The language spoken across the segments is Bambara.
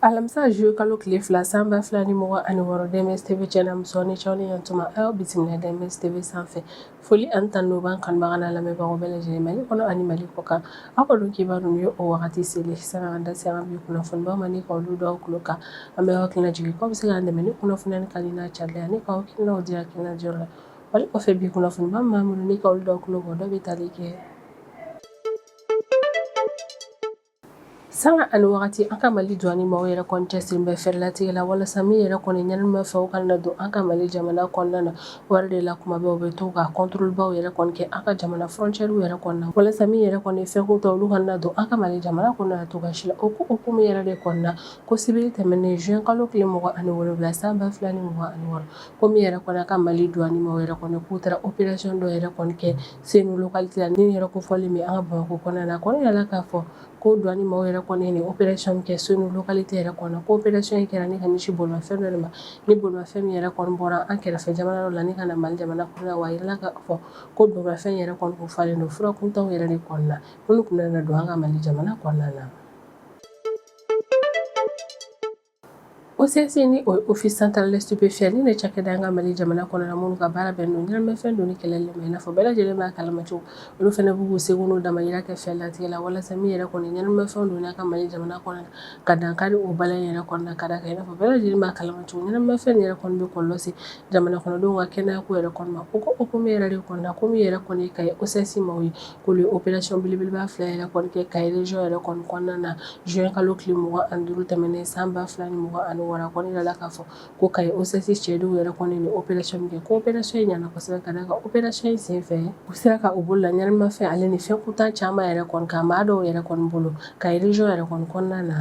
alamisa juillet kalo tile fila san ba fila ni mugan ani wɔɔrɔ DMS TV channel muso ni cɛw ni yantuma aw bisimila DMS TV sanfɛ foli ani tanu b'an kanubaga n'an lamɛnbagaw bɛɛ lajɛlen mali kɔnɔ ani mali kɔ kan aw ka don kibaru ninnu ye o wagati selen sani k'an da se an bi kunnafonibaw ma ni ka olu da aw tulo kan an bɛ aw hakili lajigin k'aw bɛ se k'an dɛmɛ ni kunnafoniya ni kalina carilen ani k'aw hakilinaw di hakilina jɔyɔrɔ la Foli kɔfɛ bi kunnafoniba minnu b'an bolo ni k'olu da aw tulo dɔ bɛ tali kɛ sanga ani waati an ka mali douane maaw yɛrɛ cɛsirilen bɛ fɛɛrɛ latigɛ la walasa min yɛrɛ kɔni ɲɛnamafɛnw kana don an ka mali jamana kɔnɔna na wa o de la kuma bɛɛ u bɛ to ka contrôlebaw yɛrɛ kɛ an ka jamana frontièrew yɛrɛ kɔnɔ walasa min yɛrɛ kɔni fɛn kuntan olu kana don an ka mali jamana kɔnɔ cogo si la o ko hukumu yɛrɛ de kɔnɔna ko sibiri tɛmɛnen juin kalo tile mugan ani wolowula san ba fila ni mugan ani wɔɔrɔ ko min yɛrɛ kɔni an ka mali douane mɔgɔw yɛrɛ kɔni k'u taara opération dɔ yɛrɛ kɔni kɛ Senu localité la ni yɛrɛ kofɔlen bɛ an ka bamakɔ kɔnɔna na kɔni yirala k'a fɔ ko douane mɔgɔw yɛrɛ kɔni nin opération kɛ Senu localité yɛrɛ kɔnɔ ko opération in kɛra ni ka ɲɛsin bolimafɛn dɔ ma ni bolimafɛn min yɛrɛ kɔni bɔra an kɛrɛfɛ jamana dɔ la ni ka na mali jamana kɔnɔ wa jirala k'a fɔ ko bolimafɛn yɛrɛ kɔni falen don fura kuntanw yɛrɛ de kɔnɔna na olu tun na don an ka mali jamana kɔnɔna na OCS ni o office central des stupéfiants ni de cakɛda an ka mali jamana kɔnɔ na minnu ka baara bɛn don ɲɛnamafɛn donni kɛlɛli ma i n'a fɔ bɛɛ lajɛlen b'a kalama cogo olu fana b'u seko damayira kɛ fɛɛrɛ latigɛ la walasa min yɛrɛ kɔni ɲɛnamafɛn donni an ka mali jamana kɔnɔ na ka dankari o baara yɛrɛ kɔnɔ na ka da kan i n'a fɔ bɛɛ lajɛlen b'a kalama cogo ɲɛnamafɛn yɛrɛ kɔni bɛ kɔlɔlɔ se jamana kɔnɔdenw ka kɛnɛyako yɛrɛ kɔni ma o ko hukumu yɛrɛ de kɔnɔ ko min yɛrɛ kɔni Kayi OCS maaw ye k'olu opération belebeleba fila yɛrɛ kɔni kɛ Kayi région yɛrɛ kɔni kɔnɔna na juin kalo tile mugan ani duuru tɛmɛnen san ba fila ni mugan ani wɔɔrɔ kɔni yirala k'a fɔ ko Kayi OCS cɛdenw yɛrɛ kɔni nin opération kɛ ko opération in ɲɛna kɔsɛbɛ ka da kan opération in sen fɛ u sera ka u bolo da ɲɛnamafɛn ale ni fɛn kuntan caman yɛrɛ kɔni kan maa dɔw yɛrɛ kɔni bolo Kayi région yɛrɛ kɔni kɔnɔna na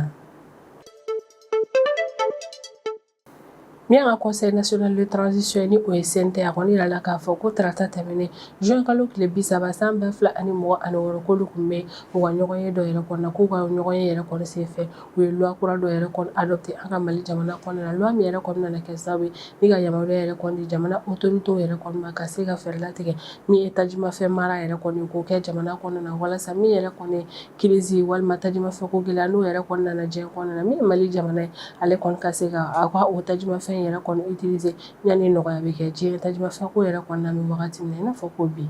Min an ka conseil national de transition ni o ye CNT a kɔni yirala k'a fɔ ko tarata tɛmɛnen juin kalo tile bi saba san ba fila ani mugan ani wɔɔrɔ k'olu tun bɛ u ka ɲɔgɔn ye dɔ yɛrɛ kɔnɔ na k'u ka ɲɔgɔn ye yɛrɛ kɔni sen fɛ u ye loi kura dɔ yɛrɛ kɔni adopté an ka mali jamana kɔnɔna na loi min yɛrɛ kɔni nana kɛ sababu ye ni ka yamaruya yɛrɛ kɔni di jamana autoritéw yɛrɛ kɔni ma ka se ka fɛɛrɛ latigɛ min ye tajimafɛn mara yɛrɛ kɔni k'o kɛ jamana kɔnɔna na walasa min yɛrɛ kɔni crise walima tajimafɛn ko gɛlɛya n'o yɛrɛ kɔni nana diɲɛ kɔnɔna na min ye Mali jamana ye ale kɔni ka se ka a ka o tajimafɛn in yɛrɛ kɔni utiliser yani nɔgɔya bɛ kɛ diɲɛ tajimafɛn ko yɛrɛ kɔnɔna na an bɛ wagati min na i n'a fɔ ko bi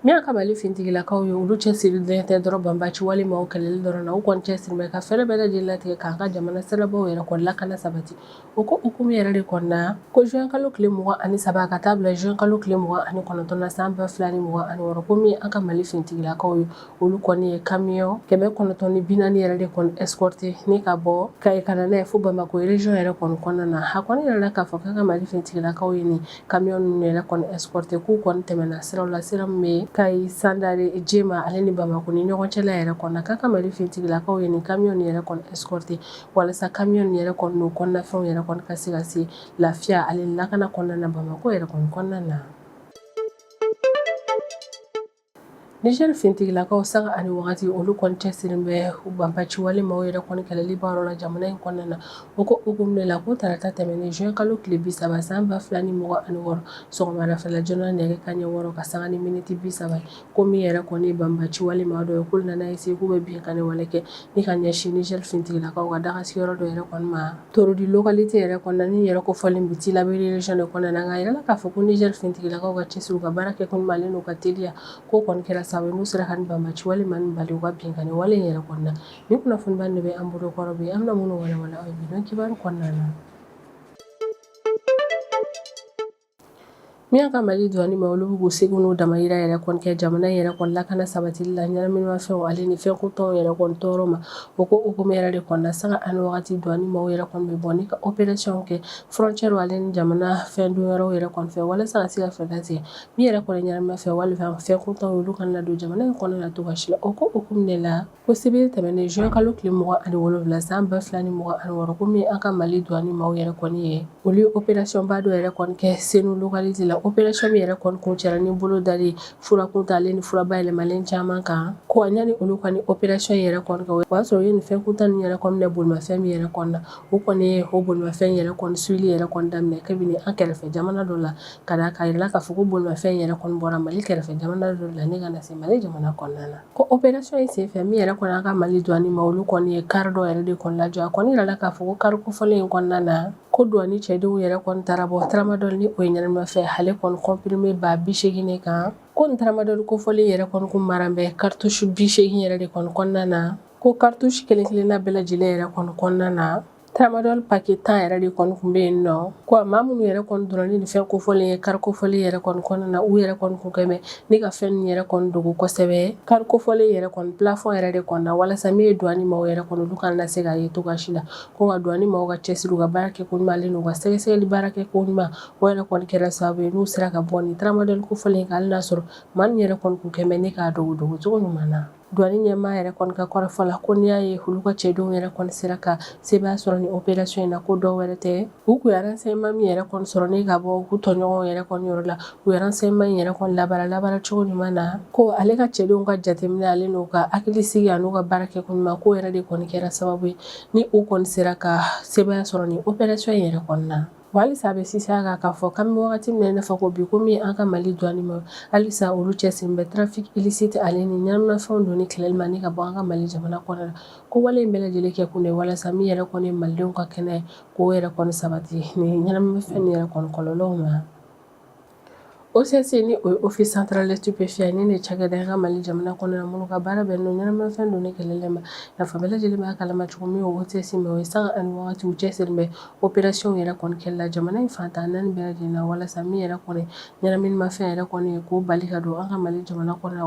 min y'an ka Mali finitigilakaw ye olu cɛsirilen tɛ dɔrɔn banbaanci walima o kɛlɛli dɔrɔn na u kɔni cɛsirilen bɛ ka fɛɛrɛ bɛɛ lajɛlen latigɛ k'an ka jamana sirabaw yɛrɛ kɔni lakana sabati O ko hukumu yɛrɛ de kɔnɔna na ko juin kalo tile 23 ka taa bila juin kalo tile 29 na san 2026 ko min an ka Mali finitigilakaw ye olu kɔni ye camion 940 yɛrɛ de kɔni escorter ni ka bɔ Kayi ka na n'a ye fo Bamakɔ région yɛrɛ kɔni kɔnɔna na a kɔni yirala k'a fɔ k'an ka Mali finitigilakaw ye nin camion ninnu yɛrɛ kɔni escorter k'u kɔni tɛmɛna siraw la sira min bɛ Kayi Sandare Jema ale ni Bamakɔ ni ɲɔgɔn cɛla yɛrɛ kɔnɔna k'an ka Mali finitigilakaw ye nin camion ninnu yɛrɛ kɔni escorter walasa camion ninnu yɛrɛ kɔni n'o kɔnɔnafɛnw yɛrɛ kɔni ka se ka se lafiya ale lakana kɔnɔna na Bamakɔ yɛrɛ kɔni kɔnɔna na Niger finitigilakaw sanga ani wagati olu kɔni cɛsirin bɛ banbaci wale maaw yɛrɛ kɔni kɛlɛli baara la jamana in kɔnɔna na o ko hukumu de la ko tarata tɛmɛnen juin kalo tile bi saba san ba fila ni mugan ani wɔɔrɔ sɔgɔmada fɛla joona nɛgɛ kanɲɛ wɔɔrɔ ka sanga ni miniti bi saba ko min yɛrɛ kɔni banbaci wale maa dɔw ye k'olu nana essayer k'u bɛ binkanni wale kɛ ni ka ɲɛsin Niger finitigilakaw ka dagasigiyɔrɔ dɔ yɛrɛ kɔni ma Torodi localité yɛrɛ kɔnɔna nin yɔrɔ kofɔlen bɛ Tilaberi région de kɔnɔna na nka a yirala k'a fɔ ko Niger finitigilakaw ka cɛsiri u ka baara kɛ ko ɲuman ale n'u ka teliya k'o kɔni kɛra sababu n'u sera ka banbaci wale maaw bali u ka binkanni wale yɛrɛ kɔnɔna na nin kunnafoniba de bɛ an bolo kɔrɔ bi an bɛna minnu walawala aw ye bi don kibaru kɔnɔna na Min an ka Mali douane maaw olu bɛ k'u seko n'u damayira yɛrɛ kɔni kɛ jamana in yɛrɛ kɔni lakana sabatili la ɲɛnaminimafɛn ale ni fɛn kuntanw yɛrɛ kɔni tɔɔrɔ ma o ko hukumu yɛrɛ de kɔnɔna sanga ani wagati douane maaw yɛrɛ kɔni bɛ bɔ ni ka opérationw kɛ frontière ale ni jamana fɛn don yɔrɔw yɛrɛ kɔni fɛ walasa ka se ka fɛɛrɛ latigɛ min yɛrɛ kɔni ɲɛnaminimafɛn walima fɛn kuntanw olu kana na don jamana in kɔnɔna na cogoya si la o ko hukumu de la Ko sibiri tɛmɛnen juin kalo tile mugan ani wolowula san ba fila ni mugan ani wɔɔrɔ min an ka Mali douane maaw yɛrɛ kɔni ye olu ye opération ba dɔ yɛrɛ kɔni kɛ Senu localité la opération min yɛrɛ kɔni kuncɛra ni bolo dali fura kuntan ale ni fura bayɛlɛmalen caman kan ko ɲani olu kɔni opération yɛrɛ kɔni kɛ o y'a sɔrɔ u ye nin fɛn kuntan nin yɛrɛ kɔni minɛ bolimafɛn min yɛrɛ kɔnɔna na o kɔni ye o bolimafɛn yɛrɛ kɔni suivili yɛrɛ kɔni daminɛ kabini an kɛrɛfɛ jamana dɔ la ka d'a kan a yirala k'a fɔ ko bolimafɛn yɛrɛ kɔni bɔra Mali kɛrɛfɛ jamana dɔ la ni ka na se Mali jamana kɔnɔna na Ko opération in senfɛ min yɛrɛ kɔni an ka Mali douane maaw olu kɔni ye kari dɔ yɛrɛ de kɔni lajɔ a kɔni yirala k'a fɔ ko kari kofɔlen in kɔnɔna na ko douane cɛdenw yɛrɛ kɔni taara bɔ tramadol ni o ye ɲɛnamafɛn ale kɔni comprimé ba bisegin kan ko nin tramadol kofɔlen yɛrɛ kɔni kun maran bɛ cartouche bisegin yɛrɛ de kɔni kɔnɔna na ko cartouche kelen-kelenna bɛɛ lajɛlen yɛrɛ kɔni kɔnɔna na Tramadol paquet 10 yɛrɛ de kɔni tun bɛ yen nɔ ko maa minnu yɛrɛ kɔni donna ni nin fɛn kofɔlen ye kari kofɔlen yɛrɛ kɔni kɔnɔna na u yɛrɛ kɔni tun kɛ bɛ ne ka fɛn ninnu yɛrɛ kɔni dogo kosɛbɛ kari kofɔlen yɛrɛ kɔni plafond yɛrɛ de kɔnɔna walasa min ye douane maaw yɛrɛ kɔni olu kana na se k'a ye cogoya si la ko nka douane maaw ka cɛsiri u ka baara kɛ ko ɲuman ale n'u ka sɛgɛsɛgɛli baara kɛ ko ɲuman o yɛrɛ kɔni kɛra sababu ye n'u sera ka bɔ nin tramadol kofɔlen in kan hali n'a sɔrɔ maa min yɛrɛ kɔni tun kɛ bɛ ne k'a dogo dogo cogo ɲuman na Douane ɲɛmaa yɛrɛ kɔni ka kɔrɔfɔ la ko n'i y'a ye olu ka cɛdenw yɛrɛ kɔni sera ka sebaya sɔrɔ nin opération in na ko dɔ wɛrɛ tɛ, u kun ye renseignements min yɛrɛ kɔni sɔrɔ ni ka bɔ u tɔɲɔgɔnw yɛrɛ kɔni yɔrɔ la, u ye renseignements in yɛrɛ kɔni labaara labaara cogo ɲuman na, ko ale ka cɛdenw ka jateminɛ ale n'u ka hakilisigi an'u ka baara kɛko ɲuman k'o yɛrɛ de kɔni kɛra sababu ye ni u kɔni sera ka sebaya sɔrɔ nin opération in yɛrɛ kɔni na. Halisa a bɛ sinsin a kan k'a fɔ k'an bɛ wagati min na i n'a fɔ ko bi ko min ye an ka mali douane maaw halisa olu cɛsirilen bɛ trafic illicite ale ni ɲɛnaminafɛnw donni kɛlɛli ma ni ka bɔ an ka mali jamana kɔnɔ la ko wale in bɛɛ lajɛlen kɛkun de walasa min yɛrɛ kɔni ye malidenw ka kɛnɛya k'o yɛrɛ kɔni sabati nin ɲɛnaminafɛn nin yɛrɛ kɔni kɔlɔlɔw ma OCS ni o ye Office central des stupéfiants ni nin cakɛda an ka mali jamana kɔnɔ na minnu ka baara bɛnnen don ɲɛnaminafɛn donni kɛlɛli ma i n'a fɔ aw bɛɛ lajɛlen b'a kalama cogo min OCS maaw ye sanga ani waati u cɛsirilen bɛ opération yɛrɛ kɔni kɛli la jamana in fan tan naani bɛɛ lajɛlen na walasa min yɛrɛ kɔni ɲɛnaminimafɛn yɛrɛ kɔni ye k'o bali ka don an ka mali jamana kɔnɔ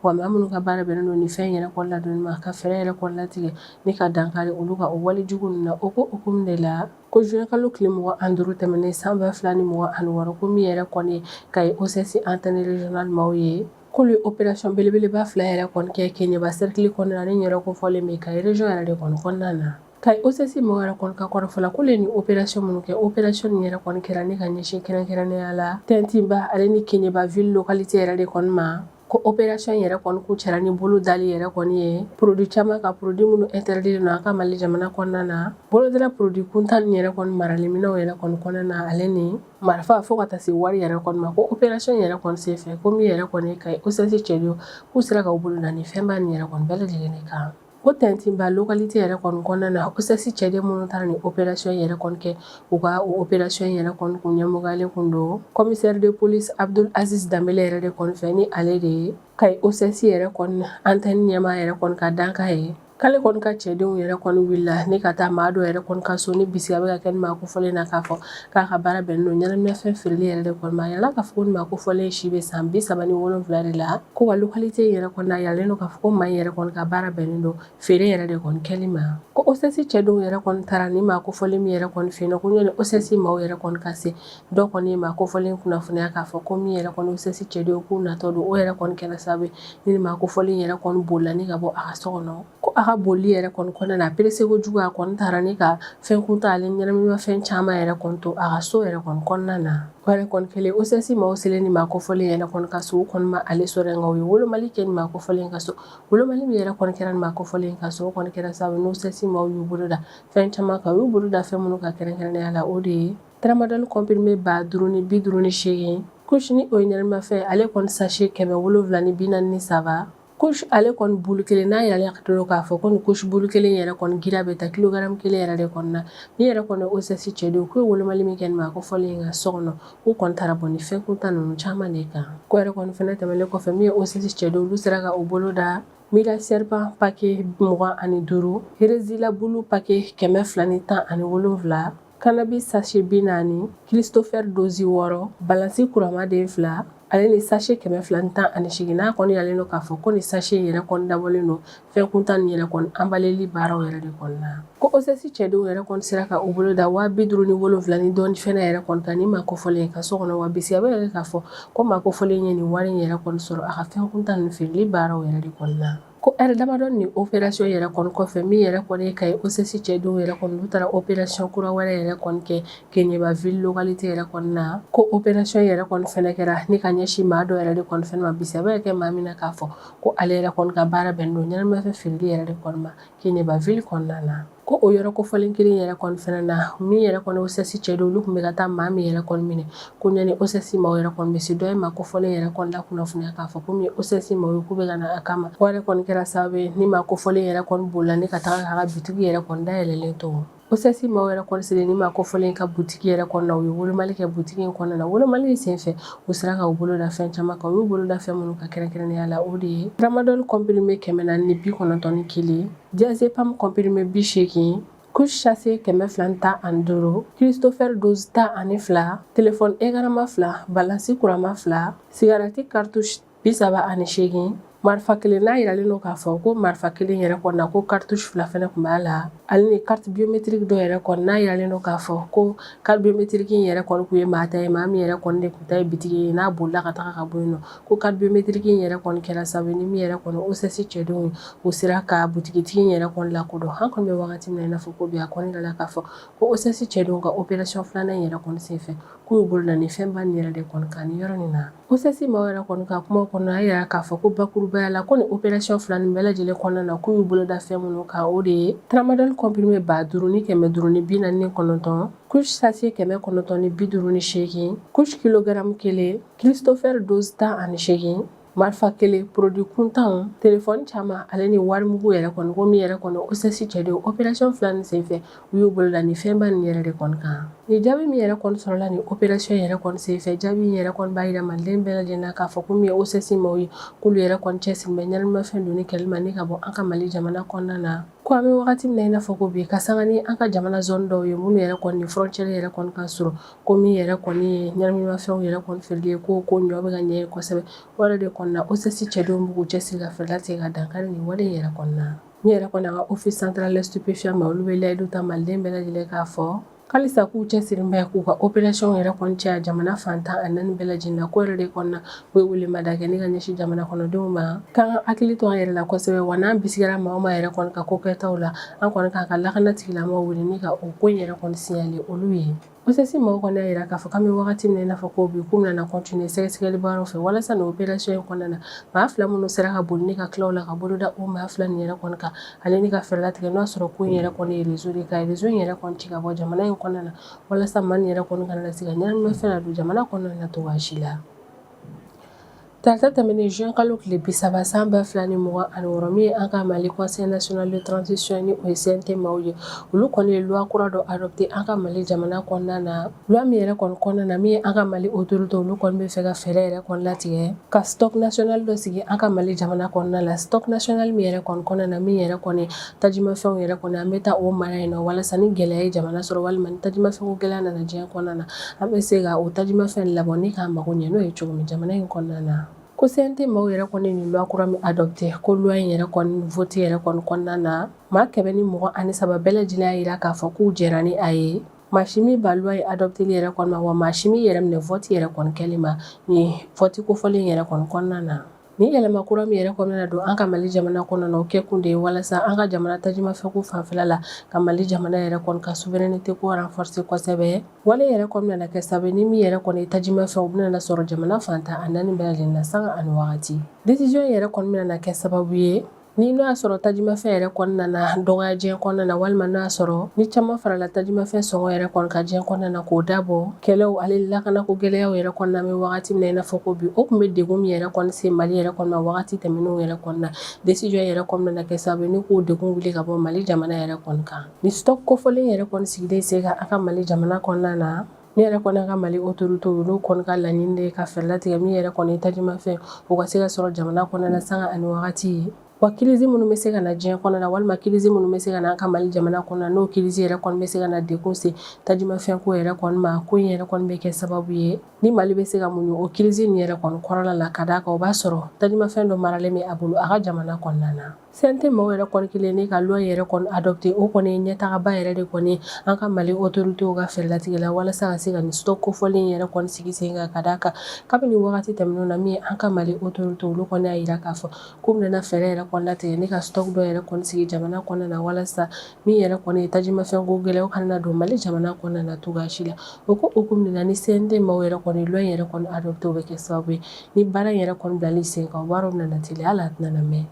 wa maa minnu ka baara bɛnnen don nin fɛn yɛrɛ kɔni ladonni ma ka fɛɛrɛ yɛrɛ kɔni latigɛ ni ka dankari olu ka o walejugu ninnu na o hukumu de la Ko zuwɛnkalo tile mugan ani duuru tɛmɛnen san ba fila ni mugan ani wɔɔrɔ ko min yɛrɛ kɔni Kayi OCS antenne régionale maaw ye k'olu ye opération belebeleba fila yɛrɛ kɔni kɛ Keɲeba sɛrikili kɔnɔna na ni yɔrɔ kofɔlen bɛ Kayi région yɛrɛ de kɔni kɔnɔna na Kayi OCS maaw yɛrɛ kɔni ka kɔrɔfɔ la k'olu ye nin opération minnu kɛ opération nin yɛrɛ kɔni kɛra ni ka ɲɛsin kɛrɛnkɛrɛnnenya la Tɛntinba ale ni Keɲeba ville localité yɛrɛ de kɔni ma ko opération yɛrɛ kɔni kuncɛra ni bolo dali yɛrɛ kɔni ye produit caman kan produit minnu interditlen don an ka mali jamana kɔnɔna na bolo dala produit kuntan nin yɛrɛ kɔni maraliminɛnw yɛrɛ kɔni kɔnɔna na ale ni marifa fo ka taa se wari yɛrɛ kɔni ma ko opération yɛrɛ kɔni senfɛ ko min yɛrɛ kɔni ye Kayi OCS cɛdenw k'u sera k'u bolo da nin fɛnba nin yɛrɛ kɔni bɛɛ lajɛlen kan O Tɛntinba localité yɛrɛ kɔni kɔnɔna na OCS cɛden minnu taara nin opération yɛrɛ kɔni kɛ u ka o opération yɛrɛ kɔni kun ɲɛmɔgɔyalen kun don commissaire de police Abdul Aziz Danbele yɛrɛ de kɔni fɛ ni ale de ye Kayi OCS yɛrɛ kɔni antenne ɲɛmaa yɛrɛ kɔni ka dankan ye k'ale kɔni ka cɛdenw yɛrɛ kɔni wulila ni ka taa maa dɔ yɛrɛ kɔni ka so ni bisigiya bɛ ka kɛ nin maa kofɔlen na k'a fɔ k'a ka baara bɛnnen don ɲɛnaminafɛn feereli yɛrɛ de kɔni ma a yirala k'a fɔ nin maa kofɔlen si bɛ san bi saba ni wolonwula de la ko wa localité yɛrɛ kɔni na a yiralen don k'a fɔ ko maa in yɛrɛ kɔni ka baara bɛnnen don feere yɛrɛ de kɔni kɛli ma ko OCS cɛdenw yɛrɛ kɔni taara nin maa kofɔlen min yɛrɛ kɔni fɛ yen ko yanni OCS maaw yɛrɛ kɔni ka se dɔ kɔni ye maa kofɔlen kunnafoniya k'a fɔ ko min yɛrɛ kɔni OCS cɛdenw k'u natɔ don o yɛrɛ kɔni kɛra sababu ye nin maa kofɔlen yɛrɛ kɔni bolila ni ka bɔ a ka so kɔnɔ Ko a ka boli yɛrɛ kɔni kɔnɔna na a pressé kojugu a kɔni taara ni ka fɛn kuntan ale ɲɛnaminafɛn caman yɛrɛ kɔni to a ka so yɛrɛ kɔni kɔnɔna na o yɛrɛ kɔni kɛlen OCS maaw selen nin maa kofɔlen yɛrɛ kɔni ka so u kɔni ma ale sɔrɔ yen nka u ye wolomali kɛ nin maa kofɔlen ka so wolomali min yɛrɛ kɔni kɛra nin maa kofɔlen ka so o kɔni kɛra sababu ni OCS maaw y'u bolo da fɛn caman kan u y'u bolo da fɛn minnu kan kɛrɛnkɛrɛnnenya la o de ye tramadol comprimé ba duuru ni bi duuru ni seegin kush ni o ye ɲɛnaminimafɛn ale kɔni sachet kɛmɛ wolo wolonwula ni bi naani ni saba Kush ale kɔni bulu kelen n'a yiralen don k'a fɔ ko nin kush bulu kelen yɛrɛ kɔni girinya bɛ taa kilogramme kelen yɛrɛ de kɔni na, ni yɛrɛ kɔni OCS cɛdenw, k'u ye wolomali min kɛ nin maa kofɔlen ka so kɔnɔ, k'u kɔni taara bɔ ni fɛn kuntan ninnu caman de kan ko o yɛrɛ kɔni fana tɛmɛnen kɔfɛ min ye OCS cɛdenw ye, olu sera ka u bolo da Mira Serpent paquet 25, Rizla bleu paquet 217 Cannabis sachet bi naani christopher dosi wɔɔrɔ balansi kuranma den fila ale ni sachet kɛmɛ fila ni tan ani seegin n'a kɔni yiralen don k'a fɔ ko ni sachet in yɛrɛ kɔni dabɔlen don fɛn kuntan nin yɛrɛ kɔni anbaleli baaraw yɛrɛ de kɔni na ko OCS cɛdenw yɛrɛ kɔni sera ka u bolo da waa bi duuru ni wolowula ni dɔɔni fana yɛrɛ kɔni kan ni maa kofɔlen ka so kɔnɔ wa bisigiya b'a yira k'a fɔ ko maa kofɔlen ye nin wari in yɛrɛ kɔni sɔrɔ a ka fɛn kuntan nin feereli baaraw yɛrɛ de kɔni na Ko heure damadɔ ni opération yɛrɛ kɔni kɔfɛ min yɛrɛ kɔni ye Kayi OCS cɛdenw yɛrɛ kɔni u taara opération kura wɛrɛ yɛrɛ kɔni kɛ Keɲeba ville localité yɛrɛ kɔni na ko opération yɛrɛ kɔni fɛnɛ kɛra ni ka ɲɛsin maa dɔ yɛrɛ de kɔni fɛnɛ ma bisigiya bɛ kɛ maa min na k'a fɔ ko ale yɛrɛ kɔni ka baara bɛn don ɲɛnaminimafɛn feereli yɛrɛ de kɔni ma Keɲeba ville kɔnɔna na Ko o yɔrɔ kofɔlen kelen yɛrɛ kɔni fɛnɛ na min yɛrɛ kɔni OCS cɛdenw olu tun bɛ ka taa maa min yɛrɛ kɔni minɛ ko ɲani OCS maaw yɛrɛ kɔni bɛ se dɔ ye maa kofɔlen yɛrɛ kɔni lakunnafoniya k'a fɔ ko min OCS maaw ye k'u bɛ ka na a kama o yɛrɛ kɔni kɛra sababu ye ni maa kofɔlen yɛrɛ kɔni bolila ni ka taa k'a ka butigi yɛrɛ kɔni da yɛlɛlen to OCS maaw yɛrɛ kɔni selen ni maa kofɔlen ka butigi yɛrɛ kɔnɔna u ye wolomali kɛ butigi in kɔnɔna na wolomali senfɛ u sera ka u bolo da fɛn caman kan u y'u bolo da fɛn minnu kan kɛrɛnkɛrɛnnenya la o de ye tramadol comprimé kɛmɛ naani ni bi kɔnɔntɔn ni kelen Diazépam comprimé bi seegin kush sachet kɛmɛ fila ni tan ani duuru Christopher dose tan ani fila telefɔni ekranma fila balansi kuranma fila sigarati cartouche bi saba ani seegin marifa kelen n'a jiralen don k'a fɔ ko marifa kelen yɛrɛ kɔnɔ na ko cartouche fila fana tun b'a la ale ni carte biométrique dɔ yɛrɛ kɔni n'a jiralen don k'a fɔ ko carte biométrique yɛrɛ kɔni tun ye maa ta ye maa min yɛrɛ kɔni de tun ta ye bitigi ye n'a bolila ka taa ka bɔ yen nɔ ko carte biométrique in yɛrɛ kɔni kɛra sababu ye ni min yɛrɛ kɔni OCS cɛdenw ye u sera ka butigitigi in yɛrɛ kɔni lakodɔn an kɔni bɛ wagati min na i n'a fɔ ko bi a kɔni dala k'a fɔ ko OCS cɛdenw ka opération filanan in yɛrɛ kɔni senfɛ k'u y'u bolo da ni fɛnba nin yɛrɛ de kɔni kan nin yɔrɔ nin na OCS maaw yɛrɛ kɔni ka kuma kɔnɔ a yira k'a fɔ ko bakurubaya la ko nin opération fila nin bɛɛ lajɛlen kɔnɔna na k'u y'u bolo da fɛn minnu kan o de ye tramadol comprimé ba duuru ni kɛmɛ duuru ni bi naani ni kɔnɔntɔn kush sachet kɛmɛ kɔnɔntɔn ni bi duuru ni seegin kush kilogramme kelen Christopher dose tan ani seegin marifa kelen produit kuntanw telefɔni caman ale ni warimugu yɛrɛ kɔni ko min yɛrɛ kɔni OCS cɛdenw opération fila nin senfɛ u y'u bolo da ni fɛnba ni yɛrɛ de kɔni kan ni jaabi min yɛrɛ kɔni sɔrɔla ni opération yɛrɛ kɔni senfɛ jaabi in yɛrɛ kɔni b'a jira maliden bɛɛ lajɛlen na k'a fɔ ko min ye OCS maaw ye k'olu yɛrɛ kɔni cɛsirilen bɛ ɲɛnaminimafɛn donni kɛlɛli ma ni ka bɔ an ka mali jamana kɔnɔna na ko an bɛ wagati min na i n'a fɔ ko bi ka san ni an ka jamana zone dɔw ye minnu yɛrɛ kɔni ni frontière yɛrɛ kɔni ka surun ko min yɛrɛ kɔni ye ɲɛnaminimafɛnw yɛrɛ kɔni feereli ye ko ko ɲɔ bɛ ka ɲɛ ye kosɛbɛ o yɛrɛ de kɔnɔna OCS cɛdenw b'u cɛsiri ka fɛɛrɛ latigɛ ka dankari nin wale yɛrɛ kɔnɔna min yɛrɛ kɔni an ka office central des stupéfiants maaw olu bɛ layidu ta maliden bɛɛ lajɛlen k'a fɔ halisa k'u cɛsirilen bɛ k'u ka opération yɛrɛ kɔni caya jamana fantan ani naani bɛɛ lajɛlen na ko yɛrɛ de kɔnɔna U ye welemada kɛ ni ka ɲɛsin jamana kɔnɔdenw ma k'an ka hakili to an yɛrɛ la kosɛbɛ wa n'an bisigila maa o maa yɛrɛ kɔni ka ko kɛtaw la an kɔni k'an ka lakana tigilamaaw wele ni ka o ko in yɛrɛ kɔni signaler olu ye ko OCS maaw kɔni y'a jira k'a fɔ k'an bɛ wagati min na i n'a fɔ ko bi k'u bɛna na continuer sɛgɛsɛgɛli baara fɛ walasa nin opération in kɔnɔna na maa fila minnu sera ka boli ni ka tila u la ka bolo da o maa fila nin yɛrɛ kɔni kan ale ni ka fɛɛrɛ latigɛ n'o y'a sɔrɔ ko in yɛrɛ kɔni ye réseau de ka réseau in yɛrɛ kɔni ci ka bɔ jamana in kɔnɔna na walasa maa yɛrɛ kɔni kana se ka ɲɛnaminimafɛn don jamana kɔnɔna cogo si la Tarata tɛmɛnen juin kalo tile bi saba san ba fila ni mugan ani wɔɔrɔ min ye an ka mali conseil national de transition ni o ye CNT maaw ye olu kɔni ye loi kura dɔ adopté an ka mali jamana kɔnɔna na loi min yɛrɛ kɔni kɔnɔna na min ye an ka mali autoritéw olu kɔni bɛ fɛ ka fɛɛrɛ yɛrɛ kɔni latigɛ ka stock national dɔ sigi an ka mali jamana kɔnɔna la stock national min yɛrɛ kɔni kɔnɔna na min yɛrɛ kɔni tajimafɛnw yɛrɛ kɔni an bɛ taa o mara yen na walasa ni gɛlɛya ye jamana sɔrɔ walima ni tajimafɛnw gɛlɛya nana diɲɛ kɔnɔna na an bɛ se ka o tajimafɛn labɔ ni k'an mago ɲɛ n'o ye cogo min jamana in kɔnɔna na ko CNT maaw yɛrɛ kɔni ye nin loi kura min adopté ko loi in yɛrɛ kɔni vote yɛrɛ kɔni kɔnɔna na maa kɛmɛ ni mugan ani saba bɛɛ lajɛlen y'a jira k'a fɔ k'u jɛra ni a ye maa si m'i ban loi in adopteli yɛrɛ kɔni ma wa maa si m'i yɛrɛ minɛ vote yɛrɛ kɔni kɛli ma nin vote kofɔlen yɛrɛ kɔni kɔnɔna na Ni yɛlɛma kura min yɛrɛ kɔni nana don an ka Mali jamana kɔnɔna na o kɛ kun de ye walasa an ka jamana tajimafɛn ko fanfɛla la ka Mali jamana yɛrɛ kɔni ka souveraineté ko renforcer kosɛbɛ wale yɛrɛ kɔni bɛna na kɛ sababu ni min yɛrɛ kɔni ye tajimafɛn o bɛna na sɔrɔ jamana fantan a 4 bɛɛ lajɛlen na sanga ani wagati décision yɛrɛ kɔni bɛna na kɛ sababu ye Ni n'o y'a sɔrɔ tajimafɛn yɛrɛ kɔni nana dɔgɔya diɲɛ kɔnɔna na walima n'o y'a sɔrɔ ni caman farala tajimafɛn sɔngɔ yɛrɛ kɔni kan diɲɛ kɔnɔna na k'o dabɔ kɛlɛw ale lakana ko gɛlɛyaw yɛrɛ kɔnɔna an bɛ wagati min na i n'a fɔ ko bi o tun bɛ degun min yɛrɛ kɔni se mali yɛrɛ kɔni ma wagati tɛmɛnenw yɛrɛ kɔnɔna décision yɛrɛ kɔni bɛna na kɛ sababu ni k'o degun wuli ka bɔ mali jamana yɛrɛ kɔni kan ni stock kofɔlen yɛrɛ kɔni sigilen sen kan an ka mali jamana kɔnɔna na Min yɛrɛ kɔni an ka mali autoritéw olu kɔni ka laɲini de ye ka fɛɛrɛ latigɛ min yɛrɛ kɔni ye tajimafɛn o ka se ka sɔrɔ jamana kɔnɔna na sanga ani wagati wa crise minnu bɛ se ka na diɲɛ kɔnɔna na walima crise minnu bɛ se ka na an ka mali jamana kɔnɔ na n'o crise yɛrɛ kɔni bɛ se ka na degun se tajimafɛn ko yɛrɛ kɔni ma ko in yɛrɛ kɔni bɛ kɛ sababu ye ni mali bɛ se ka muɲu o crise in yɛrɛ kɔni kɔrɔla la ka d'a kan o b'a sɔrɔ tajimafɛn dɔ maralen bɛ a bolo a ka jamana kɔnɔna na CNT maaw yɛrɛ kɔni kɛlen ne ka loi yɛrɛ kɔni adopté o kɔni ye ɲɛtagaba yɛrɛ de kɔni an ka Mali autorités ka fɛɛrɛlatigɛ la walasa ka se ka nin stock kofɔlen yɛrɛ kɔni sigi sen kan ka d'a kan kabini wagati tɛmɛnenw na min an ka Mali autorités olu kɔni y'a jira k'a fɔ k'u bɛna fɛɛrɛ yɛrɛ kɔni latigɛ ne ka stock dɔ yɛrɛ kɔni sigi jamana kɔnɔna na walasa min yɛrɛ kɔni ye tajimafɛnko gɛlɛya kana don Mali jamana kɔnɔna na cogoya si la o ko hukumu de la ni CNT maaw yɛrɛ kɔni loi yɛrɛ kɔni adopté o bɛ kɛ sababu ye Ni baara yɛrɛ kɔni bilali sen kan wari nana teliya hali a tɛna mɛɛn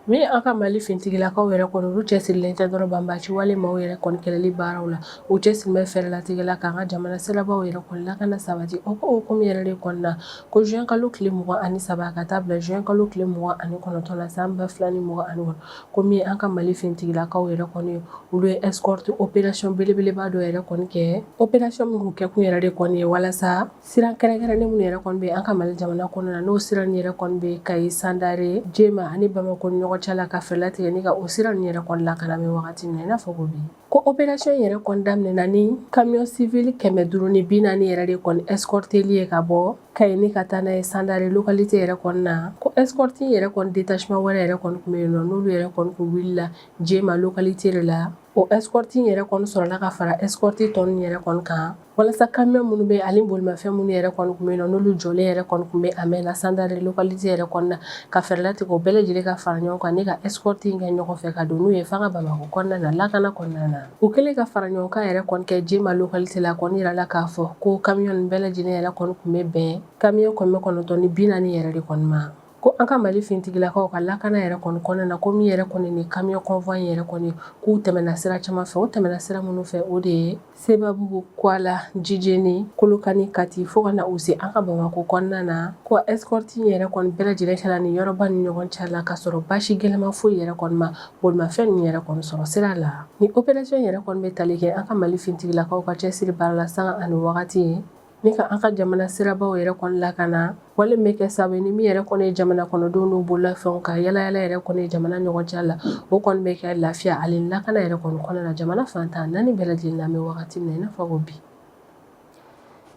min an ka Mali fintigilakaw yɛrɛ kɔni olu cɛsirilen tɛ dɔrɔn banbaaci wale maaw yɛrɛ kɔni kɛlɛli baaraw la u cɛsirilen bɛ fɛɛrɛlatigɛ la k'an ka jamana sirabaw yɛrɛ kɔni lakana sabati o ko hukumu yɛrɛ de kɔni na ko juin kalo tile mugan ani saba ka taa bila juin kalo tile mugan ani kɔnɔntɔn la san ba fila ni mugan ani wɔɔrɔ ko min an ka Mali fintigilakaw yɛrɛ kɔni ye olu ye escorte opération belebeleba dɔ yɛrɛ kɔni kɛ opération min kɛ kun yɛrɛ de kɔni ye walasa Sira kɛrɛnkɛrɛnnen minnu yɛrɛ kɔni bɛ an ka Mali jamana kɔnɔna na n'o sira nin yɛrɛ kɔni bɛ Kayi Sandare Jema ani Bamakɔ ɲɔgɔn cɛ la ka fɛɛrɛ latigɛ ne ka o sira nin yɛrɛ kɔni lakana an bɛ wagati min na i n'a fɔ ko bi ko opération yɛrɛ kɔni daminɛna ni camion civil kɛmɛ duuru ni bi naani yɛrɛ de kɔni escorteli ye ka bɔ Kayi ne ka taa n'a ye Sandare localité yɛrɛ kɔnɔna na ko escorte yɛrɛ kɔni détachement wɛrɛ yɛrɛ kɔni tun bɛ yen nɔ n'olu yɛrɛ kɔni tun wilila Jema localité de la o escorte yɛrɛ kɔni sɔrɔla ka fara escorte tɔ ninnu yɛrɛ kɔni kan walasa camion minnu bɛ ani bolimafɛn minnu yɛrɛ kɔni tun bɛ yen n'olu jɔlen yɛrɛ kɔni tun bɛ a mɛɛnna Sandare localité yɛrɛ kɔnɔna na ka fɛɛrɛ latigɛ o bɛɛ lajɛlen ka fara ɲɔgɔn kan ne ka escorte in kɛ ɲɔgɔn fɛ ka don n'u ye f'an ka Bamakɔ kɔnɔna na lakana kɔnɔna na u kɛlen ka faraɲɔgɔnkan yɛrɛ kɔni kɛ Jema localité la kɔni jirala k'a fɔ ko camion ninnu bɛɛ lajɛlen yɛrɛ kɔni tun bɛ bɛn camion kɛmɛ kɔnɔntɔn ni bi naani yɛrɛ de kɔni ma ko an ka Mali fintigilakaw ka lakana yɛrɛ kɔni kɔnɔna na ko min yɛrɛ kɔni ni camion convoi yɛrɛ kɔni k'u tɛmɛna sira caman fɛ o tɛmɛna sira minnu fɛ o de ye Sebabugu Kuala Jijeni Kolokani Kati fo ka na u se an ka Bamakɔ kɔnɔna na ko escorte yɛrɛ kɔni bɛɛ lajɛlen kɛla ni yɔrɔba ni ɲɔgɔn cɛ la ka sɔrɔ basi gɛlɛma foyi yɛrɛ kɔni ma bolimafɛn ninnu yɛrɛ kɔni sɔrɔ sira la ni opération yɛrɛ kɔni bɛ tali kɛ an ka Mali finitigilakaw ka cɛsiri baara la sanga ani wagati Ni ka an ka jamana sirabaw yɛrɛ kɔni lakana wale bɛ kɛ sabu ye ni min yɛrɛ kɔni ye jamana kɔnɔdenw n'u bololafɛnw ka yaalayaala yɛrɛ kɔni ye jamana ɲɔgɔn cɛ la o kɔni bɛ kɛ lafiya ani lakana yɛrɛ kɔni kɔnɔna na jamana fantan naani bɛɛ lajɛlen na an bɛ wagati min na i n'a fɔ ko bi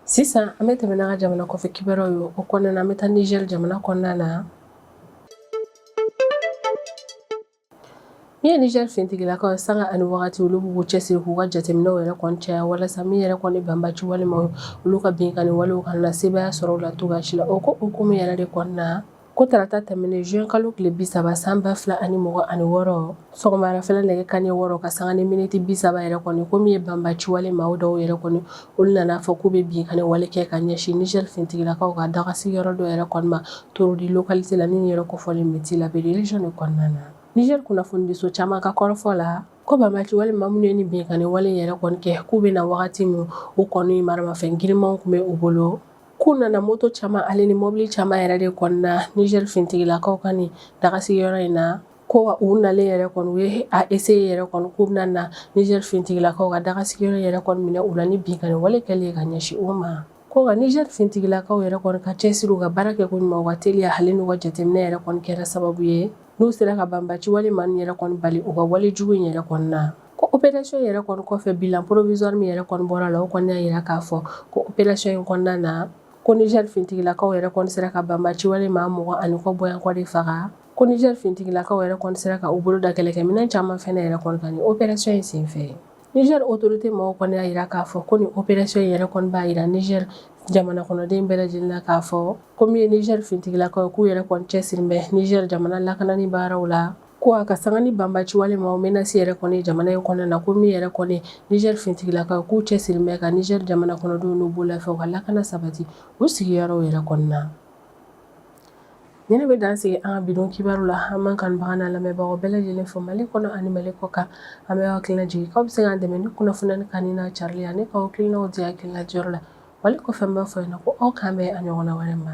sisan an bɛ tɛmɛ n'an ka jamana kɔfɛ kibaruyaw ye o kɔnɔna na an bɛ taa Niger jamana kɔnɔna na Min ye Niger finitigilakaw ye sanga ani waati olu b'u cɛsiri k'u ka jateminɛw yɛrɛ kɔni caya walasa min yɛrɛ kɔni banbaaci wale maaw olu ka binkanni walew kana na sebaaya sɔrɔ u la cogoya si la o ko hukumu yɛrɛ de kɔni na ko tarata tɛmɛnen juin kalo tile bi saba san ba fila ani mugan ani wɔɔrɔ sɔgɔmadafɛla nɛgɛ kanɲɛ wɔɔrɔ ka sanga ni miniti bi saba yɛrɛ kɔni ko min ye banbaaci wale maa dɔw yɛrɛ kɔni Olu nana a fɔ k'u bɛ binkanni wale kɛ ka ɲɛsin Niger finitigilakaw ka daga sigiyɔrɔ dɔ yɛrɛ kɔni ma Torodi localité la ni yɛrɛ kofɔlen bɛ Tillabéri région de kɔnɔna na Niger kunnafonidiso caman ka kɔrɔfɔ la ko banbaci wale maa minnu ye ni binkanni wale yɛrɛ kɔni kɛ k'u bɛ na wagati min u kɔni maramafɛn girinmanw tun bɛ u bolo k'u nana moto caman ale ni mɔbili caman yɛrɛ de kɔni na Niger finitigilakaw ka nin daga sigiyɔrɔ in na Ko wa u nalen yɛrɛ kɔni u ye a essayer yɛrɛ kɔni k'u bɛna na Niger finitigilakaw ka daga sigiyɔrɔ yɛrɛ kɔni minɛ u la ni binkanni wale kɛlen ye ka ɲɛsin u ma ko nka Niger finitigilakaw yɛrɛ kɔni ka cɛsiri u ka baara kɛ ko ɲuman u ka teliya ale n'u ka jateminɛ yɛrɛ kɔni kɛra sababu ye n'u sera ka banbaci wale maaw yɛrɛ kɔni bali u ka wale jugu in yɛrɛ kɔni na ko operation yɛrɛ kɔni kɔfɛ bilan provisoire min yɛrɛ kɔni bɔra la o kɔni y'a jira k'a fɔ ko operation in kɔnɔna na ko Niger finitigilakaw yɛrɛ kɔni sera ka banbaci wale maa mugan ni kɔ bɔɲɔgɔnko de faga Ko Niger finitigilakaw yɛrɛ kɔni sera ka u bolo da kɛlɛkɛminɛn caman fana yɛrɛ kɔni kan ni operation in sen fɛ Niger autorité mɔgɔw kɔni y'a jira k'a fɔ ko ni operation in yɛrɛ kɔni b'a jira Niger jamana kɔnɔden bɛɛ lajɛlen na k'a fɔ ko min ye Niger finitigilakaw ye k'u yɛrɛ kɔni cɛsirilen bɛ Niger jamana lakanani baaraw la ko a ka sanga ni banbaci wale maaw menace yɛrɛ kɔni ye jamana in kɔnɔna na ko min yɛrɛ kɔni Niger finitigilakaw k'u cɛsirilen bɛ ka Niger jamana kɔnɔdenw n'u bololafɛnw ka lakana sabati u sigiyɔrɔw yɛrɛ kɔni na Nin bɛ dan sigi an ka bi don kibaru la an b'an kanubagaw n'an lamɛnbagaw bɛɛ lajɛlen fo Mali kɔnɔ ani Mali kɔkan an b'aw hakili lajigin k'aw bɛ se k'an dɛmɛ ni kunnafoni in kanuni n'a carili ye ani k'aw hakilinaw di hakilina diyɔrɔ la wale kɔfɛ n b'a fɔ yen na ko aw k'an bɛn a ɲɔgɔnna wɛrɛ ma